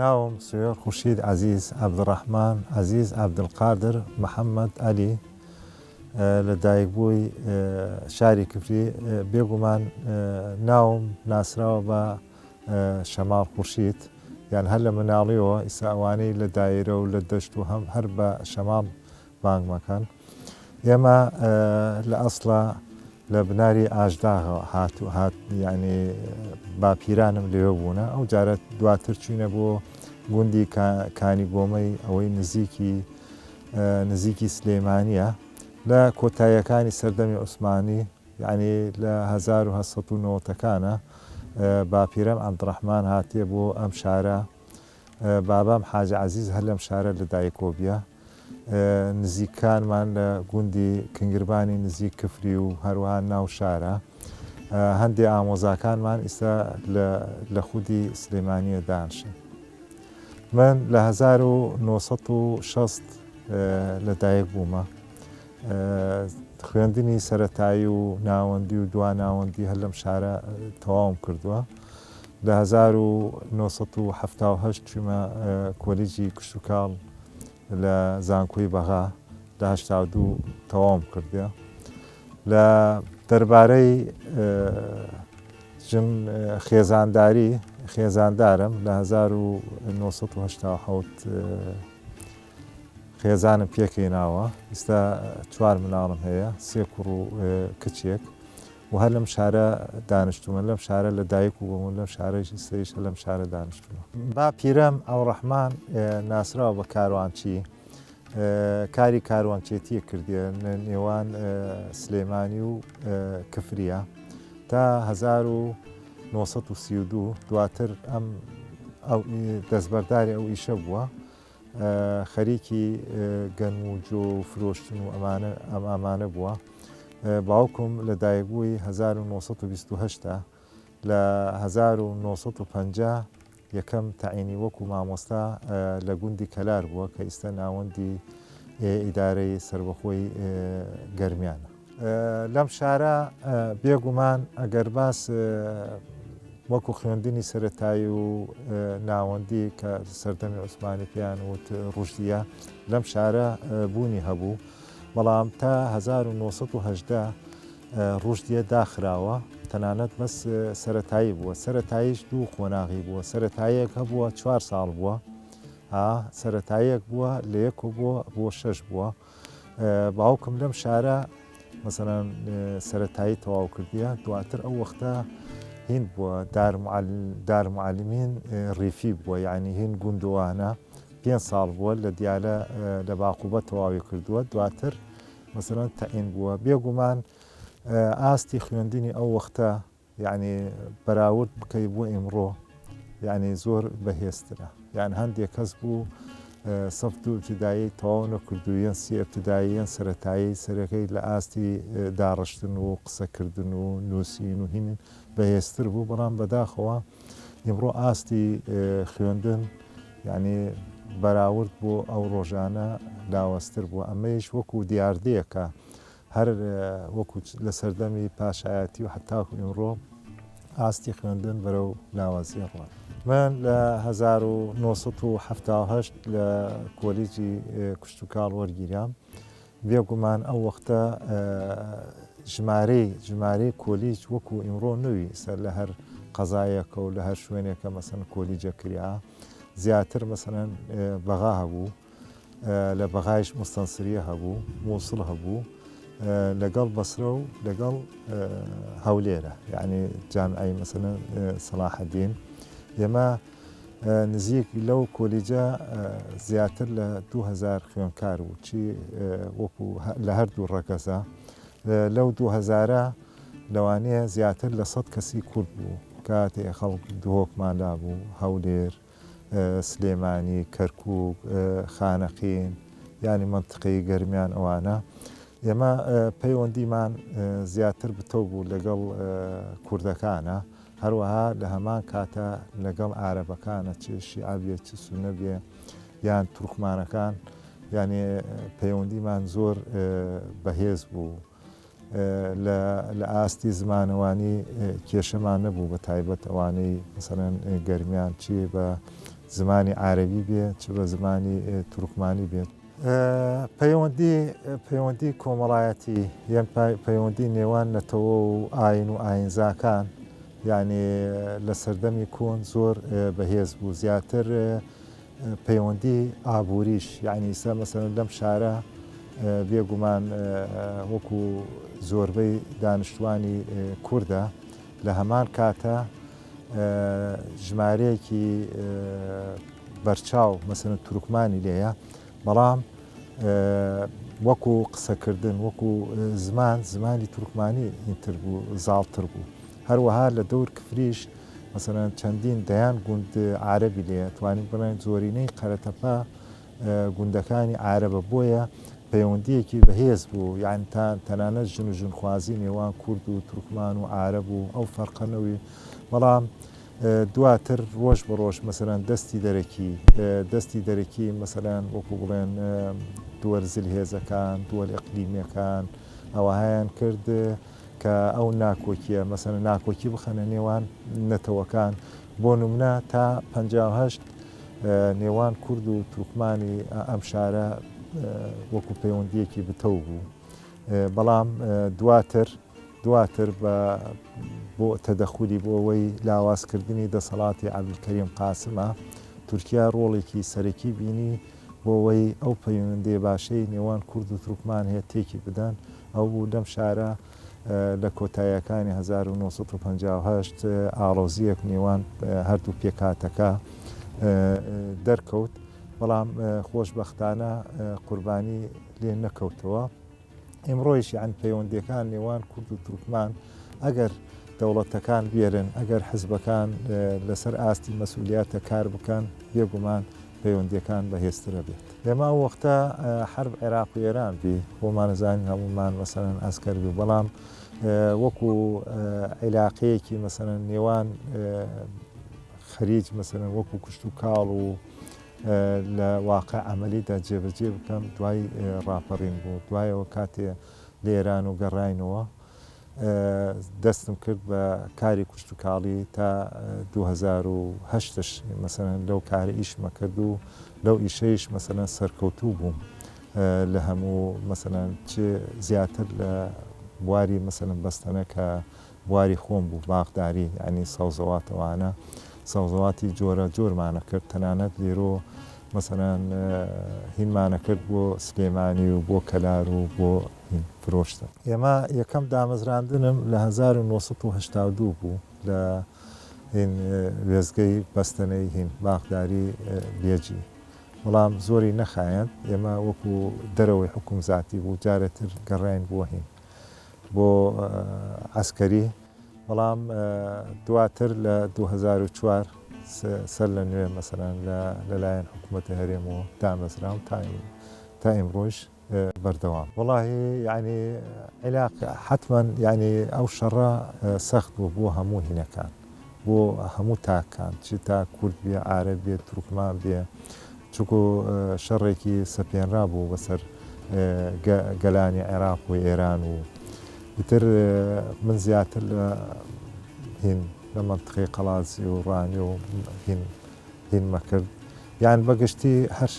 ناوم سوێر خوشید عزیز عبدڕحمان عزیز عبدلقادر محەممەد علی لە دایک بووی شاری کفری بێگومان ناوم ناسراوە بە شەماڵ خورشید، یان هەر لە مناڵیەوە، ئیستا ئەوانەی لە دایرە و لە دەشت و هەم هەر بە شەماڵ بانگ مەکەن. ئێمە لە ئەسڵا لە بناری ئاژداغەوە هات و هات یعنی باپیرانم لێوە بوونە ئەو جارە دواتر چوینە بۆ گوندی کانی گۆمەی ئەوەی نزیکی نزیکی سلێمانە لە کۆتاییەکانی سەردەمی عوسمانی یانی لە هەزار و هەشت سەد و نەوەتەکانا باپیرەم عەبدوڕەحمان هاتیە بۆ ئەم شارە بابام حاجی عەزیز هەر لەم شارە لە دایکۆ بیە نزیک کانمان لە گوندی کنگربانی نزیک کفری و هەروەها ناو شارە هەندێ ئامۆزاکانمان ئیستا لە خودی سلێمانیە دانشن من لە هەزار و نۆ سەد و شەست لە دایک بوومە خوێندنی سەرەتایی و ناوەندی و دوا ناوەندی هەر لەم شارە تەواوم کردووە لە 1970 چوومە کۆلیجی کشتتوکاڵ لە زانکۆی بەغا لە هشتا دوو تەواوم کردێ لە دەربارەی ژن خێزانداری خێزاندارم لە 1970 خێزانم پێکهێناوە، ئیستا چوار مناڵم هەیە، سێ کوڕ و کچێک و هەر لەم شارە دانشتوومە، لەم شارە لە دایک و بووم و لەم شارەش ئیستەیش هەر لەم شارە دانشتوومە. باپیرەم ئەوڕەحمان ناسراوە بە کاروانچی، کاری کاروانچێتیی کردیە لە نێوان سلێمانی و کفریە تا هەزار و نۆ سەد و سی و دوو، دواتر ئەم دەستبەرداری ئەو ئیشە بووە. خەریکی گەنم و جۆ و فرۆشتن و ئەمانە ئەم ئامانە بووە باوکم لە دایکبووی 1920 لە 1950 یەکەم تەعینی وەکو مامۆستا لە گوندی کەلار بووە کە ئیستا ناوەندی ئیدارەی سربەخۆی گەرمیانە لەم شارە بێگومان ئەگەر باس وەکو خوێندنی سەتایی و ناوەندی کە سەردەمی عوسمانی پێیان وت ڕژدیە لەم شارە بوونی هەبوو بەڵام تا 1970 ڕژدیە داخراوە تەنانەت بەس سەتایی بووە سەتاییش دوو قۆناغی بووە سەتایەک هەبووە چوار ساڵ بووە سەتایەک بووە لە یەک بووە بۆ شەش بووە باوکم لەم شارە مەسەران سەتایی تەواو کردیە دواتر ئەو وەختە هین بووە دارمعاالمین ڕیفی بووە یعنی هین گوندوانە پێ ساڵ بووە لە دیالە لە باقوبە تەواوی کردووە دواتر مەسەران تەعین بووە بێگومان ئاستی خوێندنی ئەو وەختە یانی بەراورد بکەی بۆ ئیمڕۆ یانی زۆر بەهێزترە یان هەندێک کەس بوو سەفت و ابتدایی تەواو نەکردوویان سی ابتداییان سەتایی سەرەکەی لە ئاستی داڕشتن و قسەکردن و نووسین و هینن بەهێزتر بوو بەڵام بەداخەوە ئیمڕۆ ئاستی خوێندن یعنی بەراورد بۆ ئەو ڕۆژانە لاوەستر بوو ئەمەیش وەکو دیاردەیەکە هەر وەکو لە سەردەمی پاشایەتی و هەتاکو ئیمڕۆ ئاستی خوێندن بەرەو لاوازیە ڕوات. من لە 1970 لە کۆلیجی کشتتوکاڵ وەرگیرام بێگومان ئەو وەختە ژمارەی ژمارەی کۆلیج وەکو ئیمڕۆ نووی سەر لە هەر قەزایەکە و لە هەر شوێنێکە مەسن کۆلیجە کریا زیاتر مەسەن بەغا هەبوو لە بەغایش موستەنسریە هەبوو، مووسڵ هەبوو، لەگەڵ بەسرە و لەگەڵ هەولێرە یعنی جامعی مەسەن سەلاحەدین ئێمە نزیک لەو کۆلیجە زیاتر لە 2000 خوێنکار و چی وەکو لە هەردوو ڕەگەزە لەو 2000ە لەوانەیە زیاتر لە سەد کەسی کورد بوو کاتێ خەڵک دهۆکمان لابوو هەولێر سلێمانی، کەرکوک، خانەقین، یانی مەنتقەی گەرمیان ئەوانە ئێمە پەیوەندیمان زیاتر بتەو بوو لەگەڵ کوردەکانە هەروەها لە هەمان کاتە لەگەڵ عربەکانە چ شیعبێ چ سونەبێ یان تورکمانەکان یانێ پەیوەندیمان زۆر بەهێز بوو. لە ئاستی زمانەوانی کێشەمان نەبوو بە تایبەت ئەوانەی مەسەرەن گەرمیان چی بە زمانی عربی بێ چ بە زمانی تورکمانی بێت پەیوەندی پەیوەندی کۆمەڵایەتی یان پەیوەندی نێوان نەتەوە و ئاین و ئاینزاکان یعنی لە سەردەمی کۆن زۆر بەهێز بوو زیاتر پەیوەندی ئابووریش یانی ئیستا مەسەلەن لەم شارە بێگومان وەکو زۆربەی دانیشتوانی کوردە لە هەمان کاتە ژمارەیەکی بەرچاو مەسەن تورکمانی لێیە بەڵام وەکو قسەکردن وەکو زمان زمانی تورکمانی ئینتر بوو زاڵتر بوو هەروەها لە دەور کفریش مەسەلەن چەندین دەیان گوند عارەبی لێیە توانین بڵێن زۆرینەی قەرەتەپە گوندەکانی عارەبە بۆیە پەیوەندیەکی بەهێز بوو یان تا تەنانەت ژن و ژنخوازی نێوان کورد و تورکمان و عارەب و ئەو فەرقەنەوەی بەڵام دواتر ڕۆژ بە ڕۆژ مەسەران دەستی دەرەکی دەستی دەرەکی مەسەران وەکو بڵێن دووەرزل هێزەکان دووەل ئەقلیمیەکان ئەوهایان کرد کە ئەو ناکۆکیە مەسەنە ناکۆکی بخەنە نێوان نەتەوەکان بۆ نمونە تا پهشت نێوان کورد و تورکمانی ئەم شارە وەکو پەیوەندیەکی بتەو بوو بەڵام دواتر دواتر بە بۆ تەدەخولی بۆ ئەوەی لاوازکردنی دەسەڵاتی عبدکەریم قاسمە تورکیا ڕۆڵێکی سەرەکی بینی بۆوەی ئەو پەیوەندیە باشەی نێوان کورد و تورکمان هەیە تێکی بدەن، ئەو بوو لەم شارە لە کۆتاییەکانی هەزار و نۆ سەد و پەنجا و هەشت ئاڵۆزییەک نێوان هەردوو پێکهاتەکە دەرکەوت، بەڵام خۆشبەختانە قوربانی لێ نەکەوتەوە. ئیمڕۆیش یان پەیوەندیەکان نێوان کورد و تورکمان ئەگەر دەوڵەتەکان بێرن ئەگەر حزبەکان لەسەر ئاستی مەسولیاتە کار بکەن بێگومان پەیوەندیەکان بەهێزترە بێت لەما وەختە حرب عێراق و ئێران بی بۆمانەزانین هەمومان مەسەرەن ئەسکەر بی بەڵام وەکو عیلاقەیەکی مەسەرەن نێوان خەریج مەسەرەن وەکو کوشت و کاڵ و لە واقع عەمەلیدا جێبەجێ بکەم دوای ڕاپەڕین بوو دوایەوە کاتێ لە ئێران و گەڕاینەوە دەستم کرد بە کاری کوشتتوکاڵی تا 2010 مەسەن لەو کارە ئیشمە کرد و لەو ئیشەیش مەسەن سەرکەوتوو بووم لە هەموو مەسەن چ زیاتر لە بواری مەسەن بەستەنەکە بواری خۆم بوو باخداری یانی سەوزەواتەوانە سەوزەواتی جۆرە جۆرمانە کرد تەنانەت لێرۆ مەسەران هینمانە کرد بۆ سلێمانی و بۆ کەلار و بۆ فرۆشتن ئێمە یەکەم دامەزراندنم لە 1992 بوو لە هین وێزگەی بەستەنەی هین باخداری بێجی بەڵام زۆری نەخایەن ئێمە وەکو دەرەوەی حکوم زیاتی بوو جارێتر گەڕین بۆ هین بۆ عەسکەری بەڵام دواتر لە دوو هەزار و چوار سەر لە نوێ مەسەلان لەلایەن حکوومەتی هەرێمەوە دامەزرا و تا ئیمڕۆژ بەردەوام وڵاهی یعنی عێلاق حتمما یعنی ئەو شەڕە سەخت بوو بۆ هەموو هینەکان بۆ هەموو تاککان چ تاک کورد بێ عارەب بێ تورکمان بێ چونکو شەڕێکی سەپێنرا بوو بەسەر گەلانی عێراق و ئێران و ئیتر من زیاتر لە هین لە منطقەی قەڵازی و ڕانی و هین هین مەکرد یان بەگشتی هەر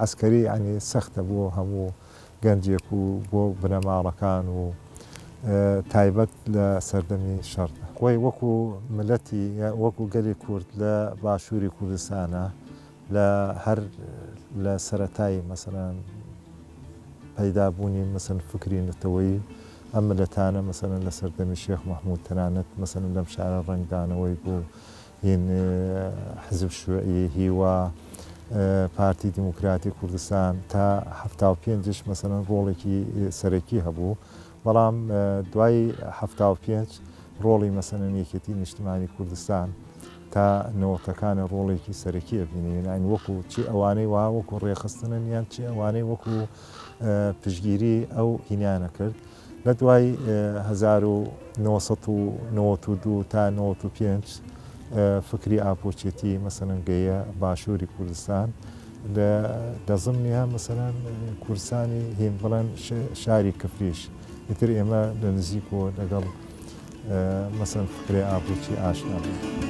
عسکەری ینی سەختە بۆ هەموو گەنجێک و بۆ بنەماڵەکان و تایبەت لە سەردەمی شەڕدا. خۆی وەکو میللەتی یا وەکو گەلی کورد لە باشووری کوردستانا لە هەر لە سەرەتای مەسەلەن پەیدا بوونی مەسەلەن فکری نەتەوەیی ئەم میللەتانە مەسەلەن لە سەردەمی شێخ مەحموود تەنانەت مەسەلەن لەم شارە ڕەنگدانەوەی بوو هین حزب شوعی، هیوا، پارتی دیموکراتی کوردستان تا حەفتا و پێنجش مەسەلەن ڕۆڵێکی سەرەکی هەبوو بەڵام دوای حەفتا و پێنج ڕۆڵی مەسەنەن یەکێتی نیشتمانی کوردستان تا نەوەتەکانە ڕۆڵێکی سەرەکی ئەبینێنین وەکو چی ئەوانەی وا وەکو ڕێخستنن یان چی ئەوانەی وەکو پشگیری ئەو هینیانە کرد لە دوای هەزار و نۆ سەد و نەوەد و دوو تا نەوەد و پێنج فکری ئاپۆچێتی مەسەنەن گەیە باشووری کوردستان لە لە زمنیها مەسەنەن کوردستانی هین بڵێن شاری کفریش ئیتر ئێمە لە نزیک و لەگەڵ مەسەن فکری ئاپۆچی ئاشنا بوو.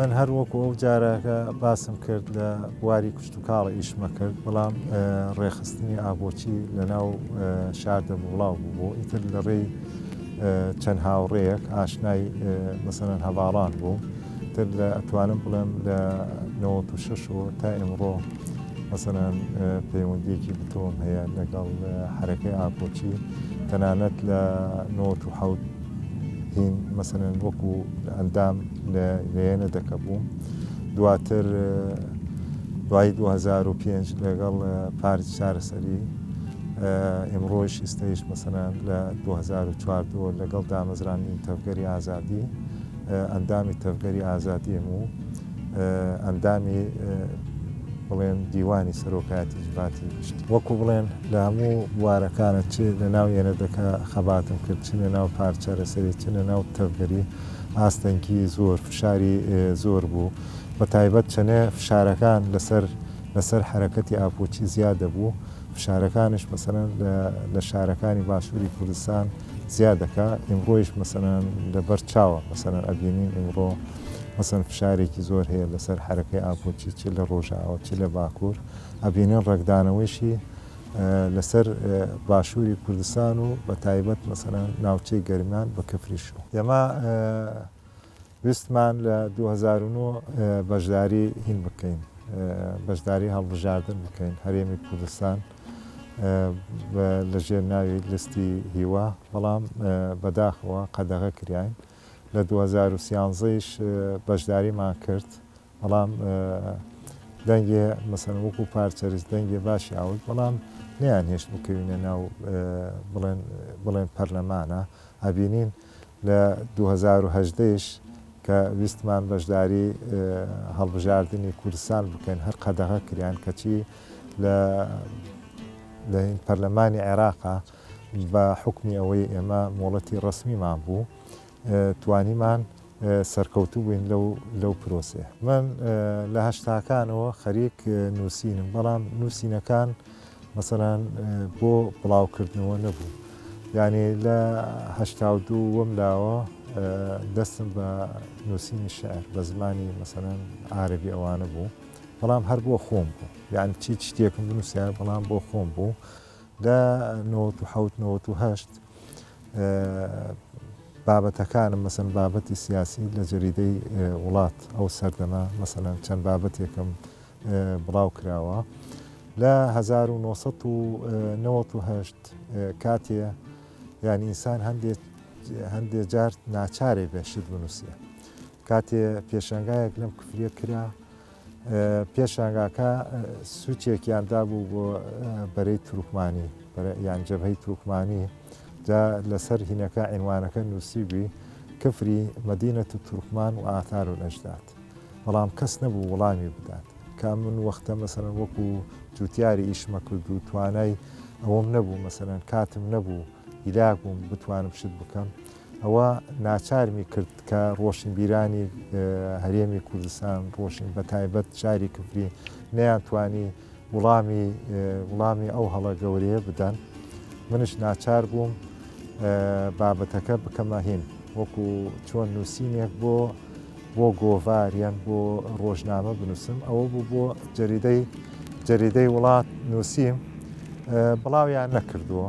من هەر وەکو ئەو جارەکە باسم کرد لە بواری کوشت و کاڵ ئیشمە کرد بەڵام ڕێخستنی ئابۆچی لە ناو شاردە بڵاو بوو بۆ ئیتر لە ڕێی چەند هاوڕێیەک ئاشنای مەسەن هەواڵان بوو تر لە ئەتوانم بڵێم لە نەوەت و شەشەوە تا ئێمڕۆ مەسەلەن پەیوەندیەکی بتەوەم هەیە لەگەڵ حرەکەی ئاپۆچی تەنانەت لە نەوەت و حوت هین مەسەن وەکو ئەندام لە لێنە دەکە بووم دواتر دوای 2005 لەگەڵ پارت چارەسەری ئمڕۆژ ئستەیش مەسەنان لە 2004 لەگەڵ دامەزرانی تەفگەری ئازادی ئەندامی تەڤگەری ئازادیم و ئەندامی بڵێن دیوانی سەرۆکایەتی جڤاتی گشتی وەکو بڵێن لە هەموو بوارەکانە چ لە ناو یەنەدەکە خەباتم کرد چ لە ناو پارچە لەسەری چ لە ناو تەڤگەری ئاستەنگی زۆر فشاری زۆر بوو بە تایبەت چەنێ فشارەکان لەسەر لەسەر حرەکەتی ئاپۆچی زیاد دەبوو فشارەکانش مەسەن لە شارەکانی باشووری کوردستان زیاد دەکا ئیمڕۆیش مەسەلەن لەبەر چاوە مەسەلەن ئەبینین ئیمڕۆ مەسەن فشارێکی زۆر هەیە لەسەر حرەکەی ئابووچی چ لە ڕۆژاوە چ لە باکوور ئەبینن ڕێکدانەوەیشی لەسەر باشووری کوردستان و بە تایبەت مەسەلەن ناوچەی گەرمیان بە کەفریشو ئێمە ویستمان لە دوو هەزار و نۆ بەشداری هین بکەین بەشداری هەڵبژاردن بکەین هەرێمی کوردستان لە ژێر ناوی لستی هیوا بەڵام بەداخەوە قەدەغە کراین لە 2013ش بەشداریمان کرد بەڵام دەنگێ مەسەن وەکو پارچەرز دەنگێ باشی ئاوت بەڵام نیان هێشت بکەوینە ناو بڵێن بڵێن پەرلەمانە ئەبینین لە دوو هەزار و هەژدە یش کە ویستمان بەشداری هەڵبژاردنی کوردستان بکەین هەر قەدەغە کریان کەچی لە لە پەرلەمانی عێراقا بە حکمی ئەوەی ئێمە مۆڵەتی ڕسمیمان بوو توانیمان سەرکەوتوو بووین لەو لەو پرۆسێ من لە هەشتاکانەوە خەریک نووسینم بەڵام نووسینەکان مەسەلەن بۆ بڵاو کردنەوە نەبوو یانی لە هەشتا و دوو وەم لاوە دەستم بە نووسینی شعر بە زمانی مەسەلەن عربی ئەوانە بوو بەڵام هەر بۆ خۆم بوو یان چی شتێکم بنووسیار بەڵام بۆ خۆم بوو لە نەوەهشت بابەتەکانم مەسن بابەتی سیاسی لە جەریدەی وڵات ئەو سەردەمە مەسەلەن چەند بابەتێکم بڵاوکراوە لە هەزار و نۆ سەد و نەوەد و هەشت کاتێ یان ئینسان هەندێک هەندێک جار ناچارێ بێ شت بنووسێ کاتێ پێشنگایەک لەم کفرە کرا پێشانگاکە سوچێکیان دابوو بۆ بەرەی تروکمانی یان جەبهەی تروکمانی جا لەسەر هینەکە ئەنوانەکە نووسیبی کفری مدینە و تورکمان و ئاثار و نەشدات بەڵام کەس نەبوو وڵامی بدات کە ئەمن وەختە مەسەن وەکو جوتیاری ئیشمە کرد و توانای ئەوەم نەبوو مەسەن کاتم نەبوو هیلاک بووم بتوانم شت بکەم ئەوە ناچارمی کرد کە ڕۆشن بیرانی هەرێمی کوردستان ڕۆشن بە تایبەت شاری کفری نەیان توانی وڵامی وڵامی ئەو هەڵە گەورەیە بدەن منش ناچار بووم بابەتەکە بکەمە هین وەکو چۆن نووسینێک بۆ بۆ گۆڤار یان بۆ ڕۆژنامە بنووسم ئەوە بوو بۆ جەریدەی جەریدەی وڵات نووسیم بڵاویان نەکردووە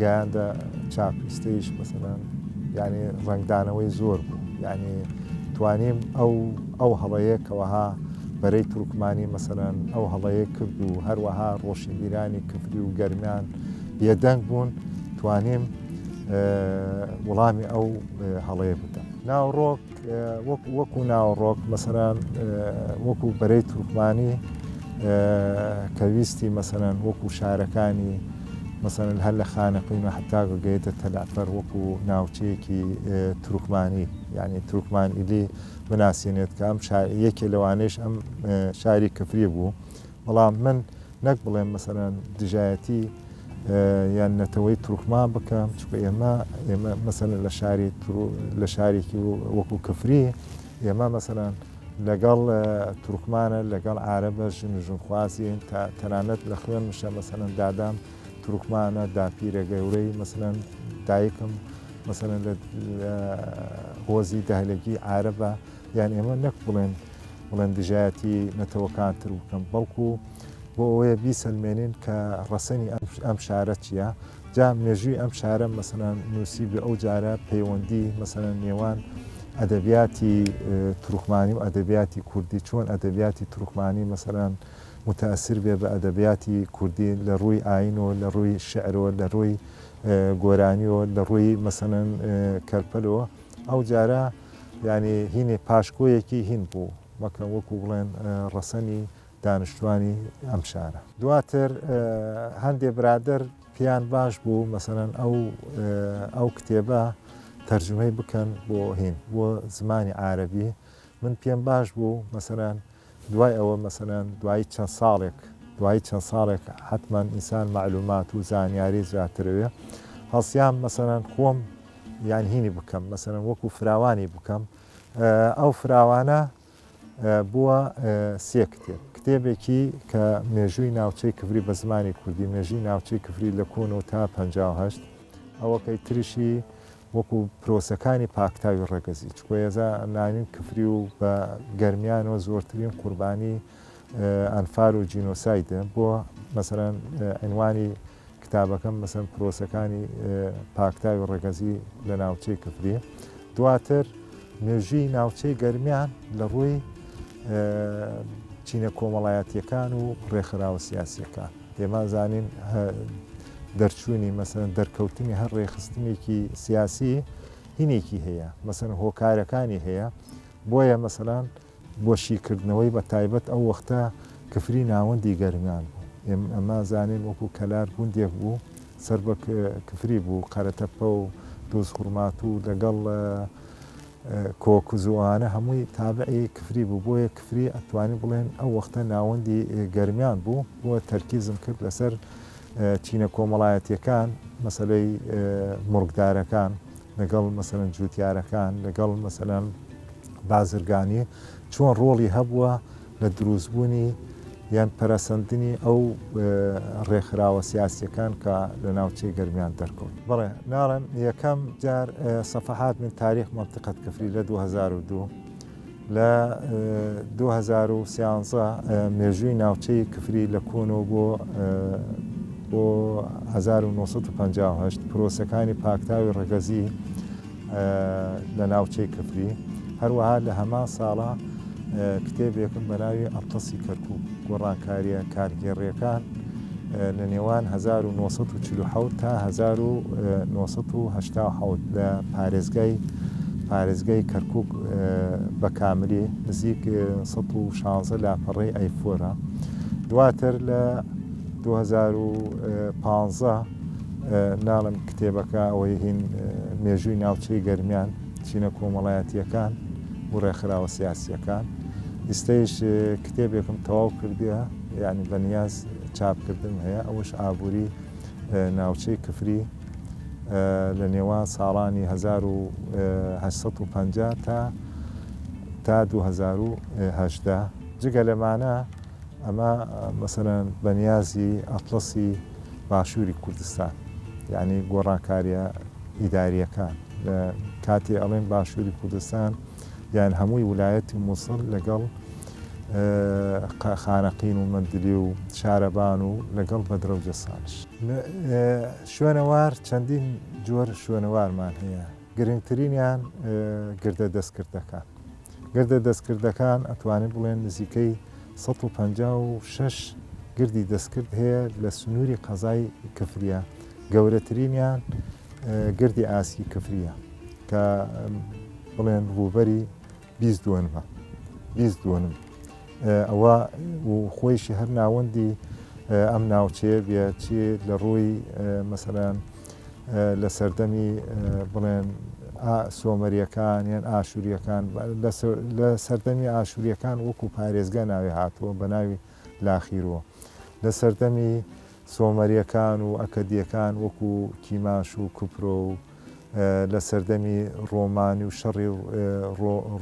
گەیاندە چاپ ئیستەیش مەسەلەن یعنی ڕەنگدانەوەی زۆر بوو یعنی توانیم ئەو ئەو هەڵەیە کەەوەها بەرەی تورکمانی مەسەرەن ئەو هەڵەیە کرد و هەروەها ڕۆشنبیرانی کفری و گەرمیان بێدەنگ بوون توانیم وڵامی ئەو هەڵەیە بدەم ناوڕۆک وەکو ناوەڕۆک مەسەلەن وەکو بەرەی تورکمانی کە ویستی مەسەلەن وەکو شارەکانی مەسەلەن هەر لە خانەقین و حتا گەیتە تەلافەر وەکو ناوچەیەکی تورکمانی یعنی تورکمان ئیلی بناسیێنێت کە ئەم یەکێ لەوانش ئەم شاری کفری بوو بەڵام من نەک بڵێم مەسەلەن دژایەتی یان نەتەوەی تورکمان بکەم چکە ئێمە ئێمە مەسەلە لە شاری لە شارێکی وەکو کفری ئێمە مەسەلەن لەگەڵ تورکمانە لەگەڵ عربە ژن و ژنخوازیین تا تەنانەت لە خوێن مشە مەسەەن دادام تورکمانە داپیرە گەورەی مەسەەن دایکم مەسەەن لە هۆزی دەهلگی عربە یان ئێمە نەک بڵێن بڵێن دژایەتی نەتەوەکان تر بکەم بەڵکو بۆ ئەوەیە بیسەلمێنین کە ڕەسەنی ئەم شارە چییە جا مێژووی ئەم شارە مەسەنان نووسی بە ئەو جارە پەیوەندی مەسەنە نێوان ئەدەبیاتی تورکمانی و ئەدەبیاتی کوردی چۆن ئەدەبیاتی تورکمانی مەسەران متەسر بێ بە ئەدەبیاتی کوردی لە ڕووی ئاین و لە ڕووی شعرەوە لە ڕووی گۆرانیەوە لە ڕووی مەسەن کەرپەلەوە ئەو جارە یانی هینێ پاشکۆیەکی هین بوو، وەکە وەکوو بڵێن ڕەسەنی دانیشتووانی ئەم شارە. دواتر هەندێ برادەر پێیان باش بوو مەسەرەن ئەو ئەو کتێبە تەرجمەی بکەن بۆ هین بۆ زمانی عربی من پێم باش بوو مەسەرەن دوای ئەوە مەسەلەن دوای چەند ساڵێک دوای چەند ساڵێک حەتمەن ئینسان مەعلومات و زانیاری زیاترەوێ هەڵسیام مەسەلەن خۆم یان هینی بکەم مەسەلەن وەکو فراوانی بکەم ئەو فراوانە بووە سێ کتێب کتێبێکی کە مێژووی ناوچەی کفری بە زمانی کوردی مێژوی ناوچەی کفری لە کۆن و تا 1950 ئەوەکەی تریشی وەکو پرۆسەکانی پاکتاوی ڕەگەزی، چکۆ یەزا ناوین کفری و بە گەرمیانەوە زۆرترین قوربانی ئەنفال و جینۆسایدە بۆ مەسەلەن عینوانی کتابەکەم مەسەن پرۆسەکانی پاکتاوی ڕەگەزی لە ناوچەی کفری دواتر مێژوی ناوچەی گەرمیان لە ڕووی چینە کۆمەڵایەتیەکان و ڕێکخراوە سیاسیەکان ئێمە زانین دەرچوونی مەسەن دەرکەوتنی هەر ڕێخستنێکی سیاسی هینێکی هەیە مەسەن هۆکارەکانی هەیە بۆیە مەسەلان بۆ شیکردنەوەی بە تایبەت ئەو وەختە کفری ناوەندی گەرمیان بوو ئێم ئەمە زانین وەکو کەلار گوندێک بوو سەر بە کفری بوو قەرەتەپە و دۆز خورمات و لەگەڵ کۆ کوز و ئەوانە هەمووی تابعی کفری بوو بۆیە کفری ئەتوانی بڵێن ئەو وەختە ناوەندی گەرمیان بوو بۆ تەرکیزم کرد لەسەر چینە کۆمەڵایەتیەکان مەسلەی مڕکدارەکان لەگەڵ مەسەن جوتیارەکان لەگەڵ مەسەلەن بازرگانی چۆن ڕۆڵی هەبووە لە دروستبوونی یان پەرەسەندنی ئەو ڕێکخراوە سیاسییەکان کە لە ناوچەی گەرمیان دەرکەوت. بەڵێ، ناڵێم یەکەم جار صفحات من تاریخ منطقە کفری لە دوو هەزار و دوو، لە دوو هەزار و سیانزە مێژووی ناوچەی کفری لە کۆنەوە بۆ بۆ هەزار و نۆ سەد و پەنجا و هەشت پرۆسەکانی پاکتاوی ڕەگەزی، لە ناوچەی کفری هەروەها لە هەمان ساڵە کتێبێکم بەناوی ئەتەسی کەرکوو گۆڕانکاریە کارگێڕیەکان لە نێوان 1940 تا 1970 لە پارێزگای پارێزگای کەرکک بە کاملی نزیک 16 لاپەڕی ئەیفۆرە دواتر لە 2015 ناڵێم کتێبەکە ئەوەی هین مێژووی ناوچەی گەرمیان چینە کۆمەڵایەتیەکان و ڕێکخراوە سیاسیەکان ئیستەیش کتێبێکم تەواو کردە یعنی بەنیاز چاپکردن هەیە ئەوش ئابووری ناوچەی کفری لە نێوان ساڵانی 1950 تا تا 2010 جگە لەمانە ئەمە مەسەلەن بەنیازی ئەتڵەسی باشووری کوردستان یانی گۆڕانکاریە ئیداریەکان لە کاتی ئەڵێن باشووری کوردستان یان هەمووی ولایەتی مووسڵ لەگەڵ خانەقین و مندلی و شارەبان و لەگەڵ بەدرەوجە سانش شوێنەوار چەندین جۆر شوێنەوارمان هەیە گرنگترینیان گردە دەستکردەکان گردە دەستکردەکان ئەتوانین بڵێن نزیکەی 156 گردی دەستکرد هەیە لە سنووری قەزای کفریە گەورەترینیان گردی ئاسکی کفریە کە بڵێن ڕووبەری بیست دوەنمە بیست دوەنم ئەوە و خۆیشی هەر ناوەندی ئەم ناوچەیە بێ چێ لە ڕووی مەسەران لە سەردەمی بڵێن سۆمەریەکان یان ئاشووریەکان لە سەردەمی ئاشووریەکان وەکو پارێزگە ناوی هاتووە بە ناوی لاخیرەوە لە سەردەمی سۆمەریەکان و ئەکەدیەکان وەکو کیماش و کوپرۆ و لە سەردەمی ڕۆمانی و شەڕی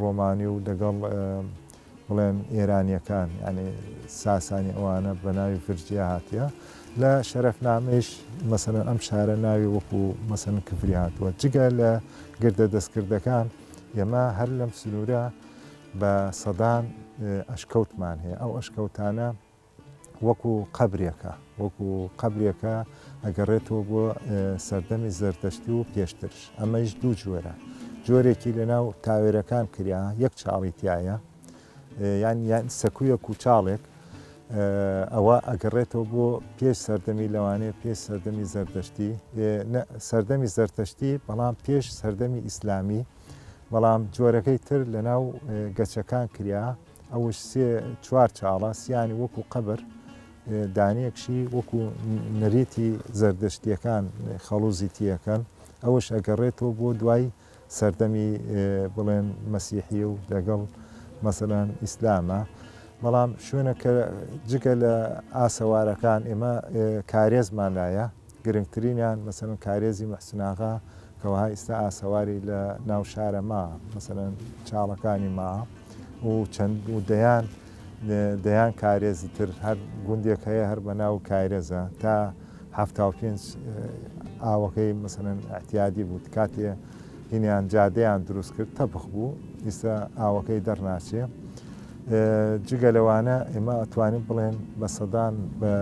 ڕۆمانی و لەگەڵ بڵێن ئێرانیەکان یعنی ساسانی ئەوانە بە ناوی فرجیا هاتیە لە شەرفنامەیش مەسەن ئەم شارە ناوی وەکو مەسەن کفری هاتووە جگە لە گردە دەستکردەکان ئێمە هەر لەم سنوورە بە سەدان ئەشکەوتمان هەیە ئەو ئەشکەوتانە وەکو قەبرێکە وەکو قەبرێکە ئەگەڕێتەوە بۆ سەردەمی زەردەشتی و پێشترش ئەمەش دوو جۆرە جۆرێکی لەناو تاوێرەکان کریا یەک چاڵی تایە یان یان سەکویەک و چاڵێک ئەوە ئەگەڕێتەوە بۆ پێش سەردەمی لەوانەیە پێش سەردەمی زەردەشتی سەردەمی زەرتەشتی بەڵام پێش سەردەمی ئیسلامی بەڵام جۆرەکەی تر لەناو گەچەکان کریا ئەوش سێ چوار چاڵە سیانی وەکو قەبر دانەیەکشی وەکو نەرێتی زەردەشتیەکان خەڵوزی تیەکەن ئەوش ئەگەڕێتەوە بۆ دوای سەردەمی بڵێن مەسیحی و لەگەڵ مەسەلەن ئیسلامە بەڵام شوێنە کە جگە لە ئاسەوارەکان ئێمە کارێزمان لایە گرنگترینیان مەسەلەن کارێزی محسن ئاغا کە وەها ئیستا ئاسەواری لە ناو شارە ما مەسەلەن چاڵەکانی ما و چەند و دەیان دەیان کارێزی تر هەر گوندێک هەیە هەر بە ناو کارێزە تا هەفتا و پێنج ئاوەکەی مەسەلەن ئەتیادی بوو کاتێ هینیان جادەیان دروست کرد تەبخ بوو ئیستا ئاوەکەی دەرناچێ جگە لەوانە ئێمە ئەتوانین بڵێن بە سەدان بە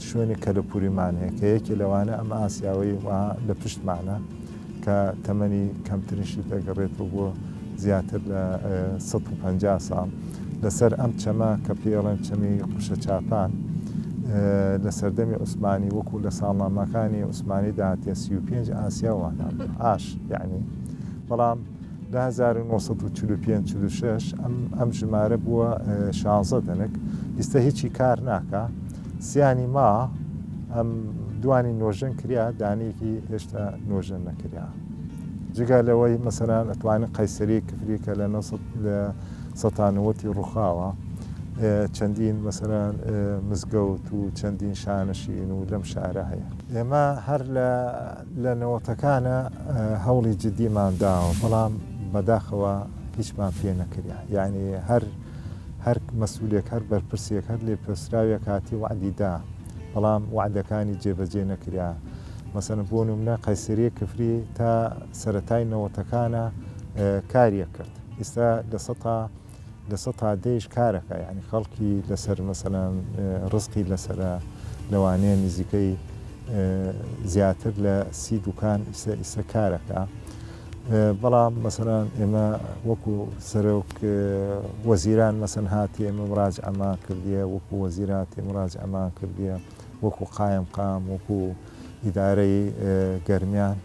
شوێنی کەلەپوریمان هەیە کە یەکی لەوانە ئەم ئاسیاوەی وا لە پشتمانە کە تەمەنی کەمترشی دەگەڕێت و بۆ زیاتر لە 150 ساڵ. لەسەر ئەم چەمە کە پێڵێن چەمی قوشە چاپان لە سەردەمی عوسمانی وەکو لە ساڵنامەکانی عوسمانی داهاتە سی و پێنج ئاسیا وانە ئاش یعنی بەڵام لە 1945 ئەم ئەم ژمارە بووە شانزە دەنک ئیستا هیچی کار ناکە سیانی ما ئەم دوانی نۆژەن کریا دانێکی هێشتا نۆژەن نەکریا جگە لەوەی مەسەران ئەتوانین قەیسەری کفری کە لە لە سەتانووەتی ڕووخاوە چەندین مەسەران مزگەوت و چەندین شانشین و لەم شارە هەیە ئێمە هەر لە لە نەوەتەکانە هەوڵی جددیمان داوە بەڵام بەداخەوە هیچمان پێ نەکریا یعنی هەر هەر مەسوولێک هەر بەرپرسێک هەر لێ پرسراوێ کاتی وعدیدا بەڵام وعدەکانی جێبەجێ نەکرا مەسەن بۆ نمونە قەیسری کفری تا سەتای نەوەتەکانە کاریە کرد ئیستا لە سەتا لە سەتا دەیش کارەکە یعنی خەڵکی لەسەر مەسەلەن ڕزقی لەسەرە لەوانەیە نزیکەی زیاتر لە سی دوکان ئیسە ئیسە کارەکە بەڵام مەسەران ئێمە وەکو سەرۆک وەزیران مەسەن هاتی ئێمە ڕاج ئەما کردیە وەکو وەزیراتی ڕاج ئەما کردیە وەکو قایم قام وەکو ئیدارەی گەرمیان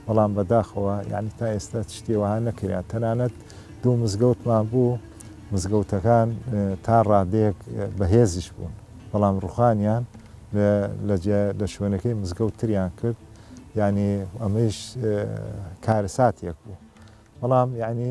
بەڵام بەداخەوە یعنی تا ئێستا شتێ وەها نەکرا تەنانەت دوو مزگەوتمان بوو مزگەوتەکان تا ڕادێک بەهێزیش بوون بەڵام ڕوخانیان لە شوێنەکەی مزگەوت تریان کرد یعنی ئەمەش کارەساتێک بوو بەڵام یعنی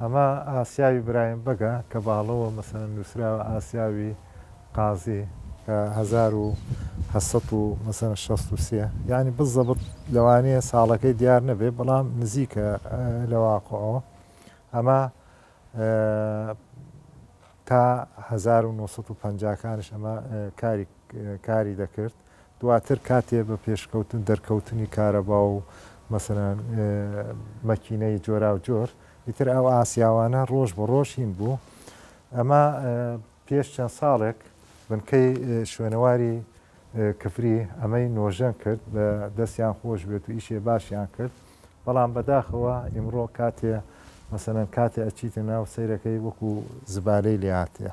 ئەمە ئاسیاوی برایم بەگە کە باڵەوە مەسەلەن نوسراوە ئاسیاوی قازی. کە هەزار و هەشت سەد و مەسەلەن شەست و سێ یانی بزەبت لەوانیە ساڵەکەی دیار نەبێ بەڵام نزیکە لە واقعەوە ئەمە تا هەزار و نۆ سەد و پەنجا کانیش ئەمە کاری کاری دەکرد. دواتر کاتێ بە پێشکەوتن دەرکەوتنی کارەبا و مەسەلەن مەکینەی جۆراوجۆر ئیتر ئەو ئاسیاوانە ڕۆژ بە ڕۆژ هین بوو ئەمە پێش چەند ساڵێک بنکەی شوێنەواری کفری ئەمەی نۆژەن کرد بە دەستیان خۆش بێت و ئیشێ باشیان کرد بەڵام بەداخەوە ئیمڕۆ کاتێ مەسەن کاتێ ئەچیتە ناو سیرەکەی وەکو زبالەی لێهاتەیە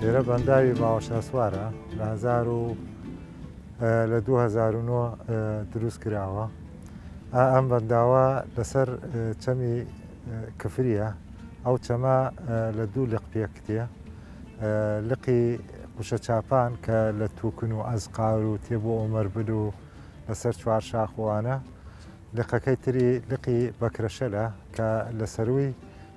لێرە بەنداوی باوەشاسوارە لە هزار و لە 2009 دروست کراوە ئەم بەنداوە لەسەر چەمی کفریە ئەو چەمە لە دوو لق پێکتێ لقی قوشە چاپان کە لە توکن و ئەزقار و تێ بۆ ئۆمەر بل و لەسەر چوار شاخوانە لقەکەی تری لقی بەکرەشەلە کە لە سەروی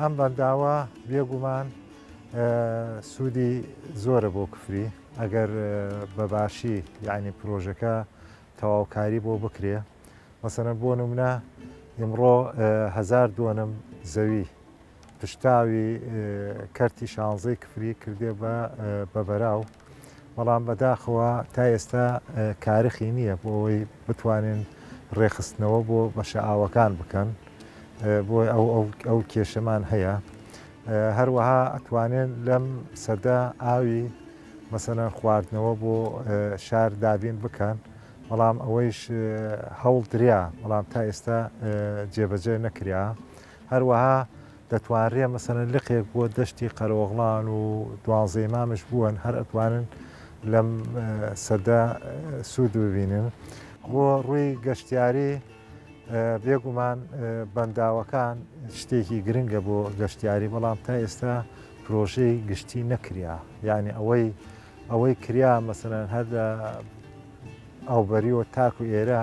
ئەم بەنداوە بێگومان سوودی زۆرە بۆ کفری ئەگەر بەباشی یعنی پرۆژەکە تەواوکاری بۆ بکرێ مەسەنە بۆ نمونە ئمڕۆ هزار دوۆنم زەوی پشتاوی کەرتی شانزەی کفری کردێ بە بەبەراو بەڵام بەداخەوە تا ئێستا کارخی نییە بۆ ئەوەی بتوانن ڕێخستنەوە بۆ بەشە ئاوەکان بکەن بۆ ئەو کێشەمان هەیە هەروەها ئەتوانێن لەم سەدە ئاوی مەسەەن خواردنەوە بۆ شار دابین بکەن بەڵام ئەوەیش هەوڵ دریا بەڵام تا ئێستا جێبەجێ نەکرا هەروەها دەتوانرێ مەسەلەن لقێک بۆ دەشتی قەرەوغڵان و دوانزەی مامش بوون هەر ئەتوانن لەم سەدە سوود ببینن بۆ ڕووی گەشتیاری بێگومان بەنداوەکان شتێکی گرنگە بۆ گەشتیاری بەڵام تا ئێستا پرۆژەی گشتی نەکریا یعنی ئەوەی ئەوەی کریا مەسەن هەر لە ئەوبەریەوە تاکو ئێرە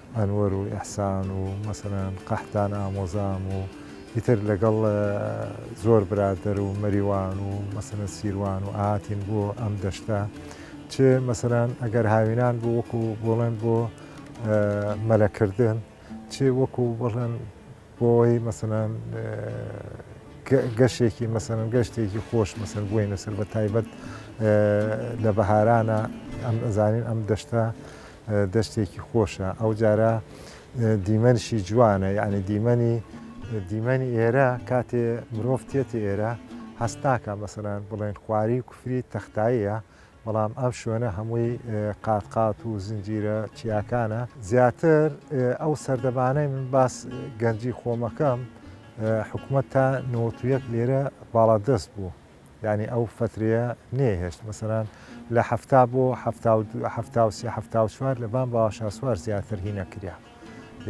ئەنوەر و ئیحسان و مەسەلەن قەحتان ئامۆزام و ئیتر لەگەڵ زۆر برادەر و مەریوان و مەسەلەن سیروان و ئاهاتین بۆ ئەم دەشتە چ مەسەلەن ئەگەر هاوینان بۆ وەکو بۆڵێن بۆ مەلەکردن چ وەکو بڵێن بۆی مەسەلەن گەشێکی مەسەن گەشتێکی خۆش مەسەر بووی نەسەر بە تایبەت لە بەهارانە ئەم ئەزانین ئەم دەشتە دەشتێکی خۆشە ئەو جارە دیمەنشی جوانە یعنی دیمەنی دیمەنی ئێرە کاتێ مرۆڤ تێتی ئێرە هەستاکە مەسەران بڵێن خواری و کوفری تەختاییە بەڵام ئەم شوێنە هەمووی قات قات و زنجیرە چیاکانە زیاتر ئەو سەردەمانەی من باس گەنجی خۆمەکەم حکوومەت تا نۆتویەک لێرە باڵا دەست بوو ینی ئەو فترەیە نێهێشت مەسەران لە هەفتا بۆ هەفتا و سێ هەفتا و چوار لەبان باشاسوار زیاتر هینەکریا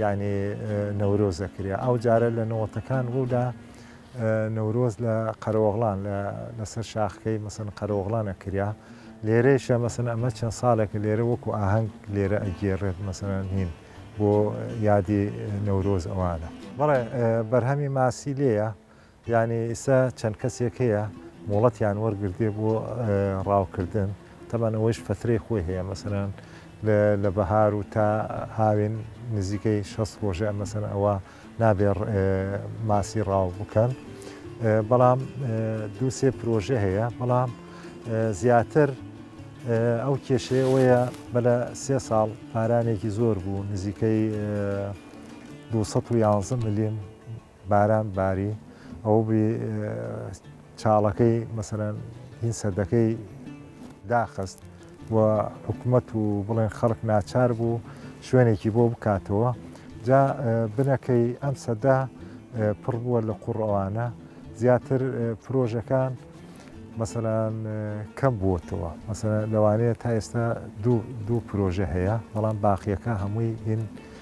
یانی نەورۆز دەکریا ئەو جارە لە نەوەتەکان ڕوودا نەورۆز لە قەرەوەغڵان لەسەر شاخکەی مەسن قەرەوەغڵان ئەکریا لێرەیشە مەسن ئەمە چەند ساڵێکە لێرە وەکو ئاهەنگ لێرە ئەگێڕێت مەسەرەن هین بۆ یادی نەورۆز ئەوانە بەڵێ بەرهەمی ماسی لێە یانی ئیستا چەند کەسێک هەیە مۆڵەتیان وەرگرتێ بۆ ڕاوکردن تەبان ئەوەیش فەترەی خۆی هەیە مەسەران لە بەهار و تا هاوێن نزیکەی شەست ڕۆژە مەسەن ئەوە نابێ ماسی ڕاو بکەن بەڵام دوو سێ پرۆژە هەیە بەڵام زیاتر ئەو کێشەیەوەیە بە لە سێ ساڵ پارانێکی زۆر بوو نزیکەی 211 ملیم باران باری ئەوە بی چاڵەکەی مەسەرەن هین سەردەکەی داخست و حکوومەت و بڵێن خەڵک ناچار بوو شوێنێکی بۆ بکاتەوە جا بنەکەی ئەم سەدا پڕ بووە لە قوڕەوانە زیاتر پرۆژەکان مەسەلاەن کەم بووتەوە مەسە لەوانەیە تا ئێستا دوو پرۆژە هەیە بەڵام باقیەکە هەمووی هین